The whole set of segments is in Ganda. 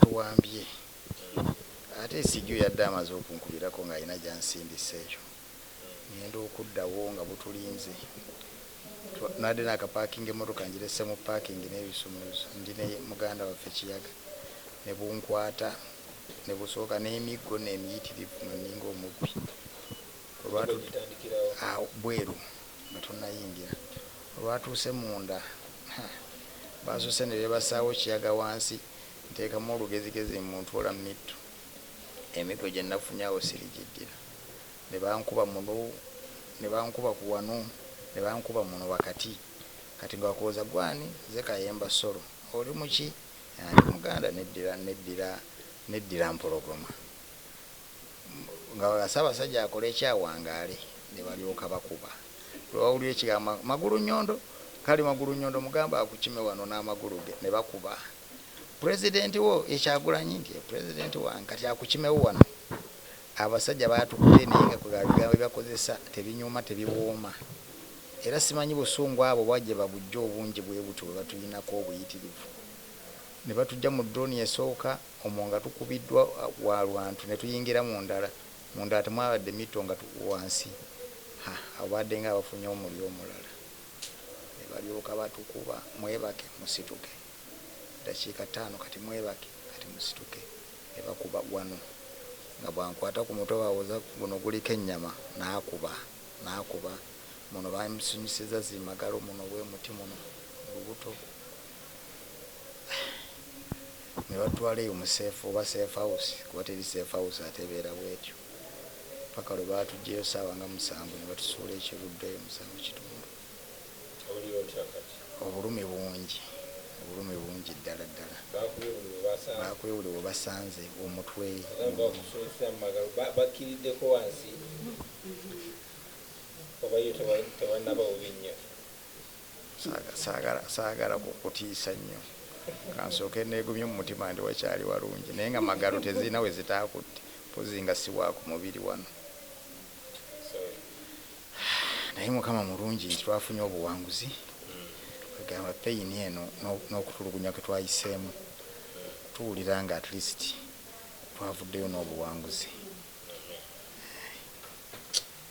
Tuwambye ate Nsijju yadde amaze okunkubirako ng'alina gy'ansindise ekyo ng'enda okuddawo nga butulinze nabadde naakapaakinga emmotoka ngirese mu paakingi n'ebisumuluzo ndi ne muganda waffe Kiyaga ne bunkwata ne busowoka n'emiggo nno emiyitirivu nga nninga omubbi bweru nga tonnayingira. Olwatuuse munda, ha, baasoose ne beebasaawo Kiyaga wansi, Nteekamu olugezigezi mmuntoola mu mittu. Emiggo gye nnafunye awo sirigiddira. Ne bankuba muno, ne bankuba ku wano, ne bankuba muno wakati. Kati ggwe akubuuza, Ggwe ani? Nze Kayemba Solo. Oli mu ki? Ndi Muganda. Neddira, neddira, neddira Mpologoma. nga Ssaabasajja akoleki awangaale nebalyoka bakuba lwebawulira ekigambo Magulu Nyondo kale Magulu Nyondo mugambe akukime wano n'amagulu ge nebakuba President wo ye Kyagulanyi nti ye President wange kati akukimewo wano abasajja batukute naye nga kwe ebigambo byebakozesa tebinyuma tebiwooma era simanyi busungu abo oba jebabujja obungi bwebutyo bwebatuyinako obuyitirivu nebatujja mu Drone esooka Omwo nga tukubiddwa wa lwantu ne tuyingira mu ndala. Mu ndala temwabadde mitto nga wansi, ha, abo baaddenga abafunye omulyo omulala. Ne balyoka batukuba, Mwebake, musituke. Eddakiika ttaano kati, Mwebake, kati musituke. Ne bakuba wano. Nga bw'ankwata ku mutwe, bawoza, Guno guliko ennyama. N'akuba, n'akuba. Muno bamusonyisizza zi magalo, muno bwe muti, muno mu lubuto. nebatwala eyo mu safe oba safe house kuba teri safe house ate ebeera bwetyo paka lwebatujjeyo saawa nga musanvu nebatusuula ekiruddu eyo musanvu kitundu obulumi bungi obulumi bungi ddala ddala bakuye buli webasanze omutwe Saagala kukutiisa nnyo. Ka nsooke nneegumye mu mutima nti wakyali walungi naye nga Magalo tezirina we zitaakutte mpozzi nga si wa ku mubiri wano. Naye Mukama mulungi nti twafunye obuwanguzi kwegamba peyini eno n'okutulugunya kwe twayiseemu tuwulira nga at least twavuddeyo n'obuwanguzi.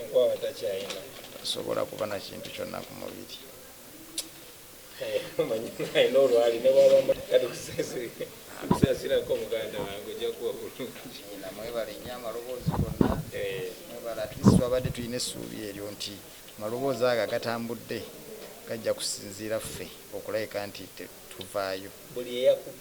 enkwawa takyayina asobola kuba na kintu kyonna ku mubiri mwebale nyo amaloboozi gonna mwebale atlist twabadde tulina essuubi eryo nti amaloboozi ago agatambudde gajja kusinziira ffe okulabika nti tuvaayo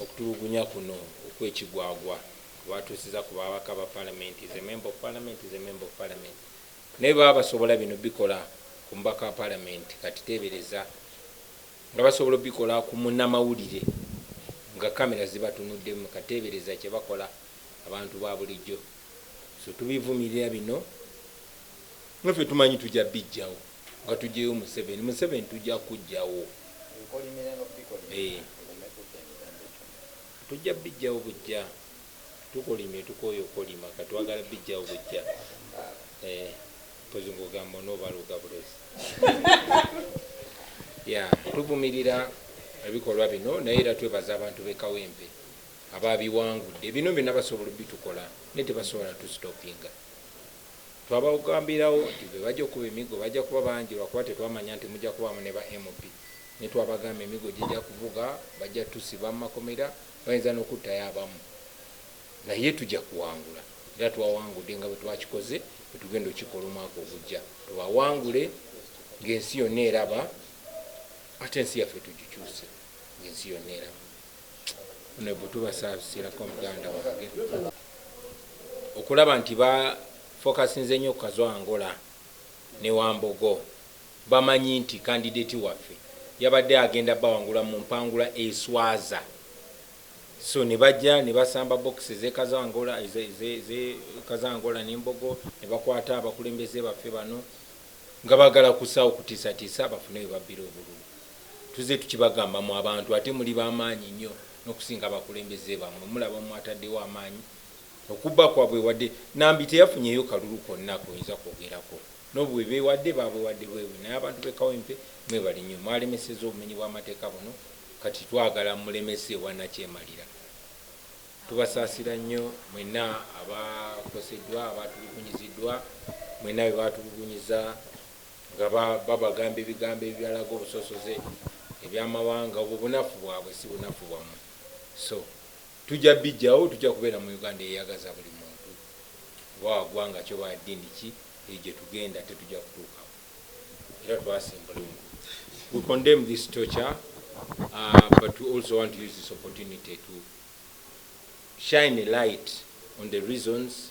okutulugunya kuno okwekigwagwa kwebatusiza ku babaka ba palamenti is a member of parliament is a member of parliament naye baba basobola bino bikola ku mubaka wa palamenti kati tebereza nga basobola obikola ku munamawulire nga kamera zibatunuddemu katebereza kyebakola abantu babulijjo so tubivumirira bino naffe tumanyi tujja bijjawo nga tujjeyo museveni museveni tujja kujjawo eh. tujja bijjawo bujja tukolimye tukoye okolima katwagala bijjawo bujja eh, pozi ngogamba onobaluga bulozi ya tuvumirira ebikolwa bino naye era twebaza abantu bekawempe ababiwangudde bino byona basobola obitukola naye tebasobola tu stoppinga twabagambirawo nti bebaja okuba emigo baja kuba bangi lwakuba tetwamanya nti muja kubamu ne ba MP netwabagamba emigo jija kuvuga baja tusiba mumakomera bayinza nokuttayo abamu naye tuja kuwangula era twawangude nga bwetwakikoze bwetugenda okikola omwaka ogujja tubawangule ngensi yonna eraba ate ensi yaffe tugikyuse ngensi yonna eraba Honorable tubasasilako muganda wange okulaba nti ba focusinze nyo kazo angola ne wambogo bamanyi nti candidate waffe yabadde agenda bawangula mu mpangula eswaza so nebajja nebasamba box ze kazo angola ze, ze, ze kazo angola ne mbogo nebakwata abakulembeze baffe bano nga bagala kusawo kutisatisa bafune webabbira obululu Tuzze tukibagamba mwe abantu ate muli bamaanyi nnyo nokusinga abakulembeze bamwe mulaba mwataddewo amaanyi okubba kwabwe wadde Nambi teyafunyeyo kalulu konna koyinza kwogerako nobu bwebewadde babuwadde bwebubi naye abantu be Kawempe mwebale nnyo mwalemeseza obumenyi bwamateeka buno kati twagala mulemese ewa nakyemalira Tubasaasira nnyo mwenna abakoseddwa abaatulugunyiziddwa mwenna bebaatulugunyiza. Nga ba, babagamba ebigambo ebialaga obusosoze, ebyamawanga, obwo bunafu bwabwe, si bunafu bwamwe. So, tujja bijjawo, tujja kubeera mu Uganda eyeyagaza buli muntu, oba wa gwanga ki oba wa ddiini ki, eyo gye tugenda ate tujja kutuukawo. Era twasimbula ogwo. We condemn this torture, uh, but we also want to use this opportunity to shine a light on the reasons,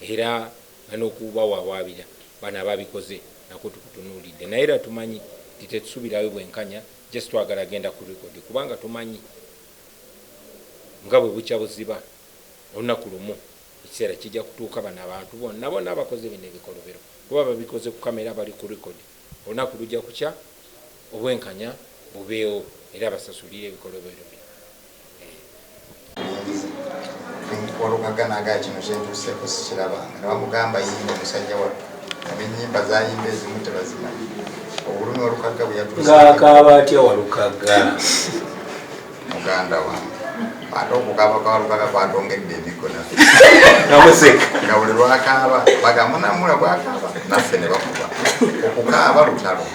Era nga nokubawawaabira bano ababikoze nakwo tukutunuulidde naye era tumanyi nti tetusubirayo bwenkanya just twagala genda ku record kubanga tumanyi nga bwebukya buziba olunaku lumu ekiseera kijja kutuuka bano abantu bonna bonna abakoze bino ebikolobero kuba babikoze ku camera bali ku record olunaku lujja kukya obwenkanya bubeewo era basasulire ebikolobero bino. walukaganaga kino kyentuuseeko sikiraba nga bamugamba yimba omusajja wattu abenyimba zayimba ezimu tebazimanyi obulumi walukagga bweyatuusngakaaba atya walukagga muganda wange ate okukaaba kwa walukagga kwatongedde emikono nga buli lwakaaba bagamunamula gwakaaba naffe ne bakuba okukaaba lutalo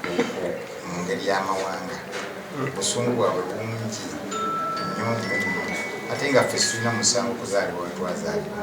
Buko mu ngeri y'amawanga. Obusungu bwabwe bungi nnyo nnyo nnyo ate nga ffe situlina musango kuzaalibwa wetwazaalibwa.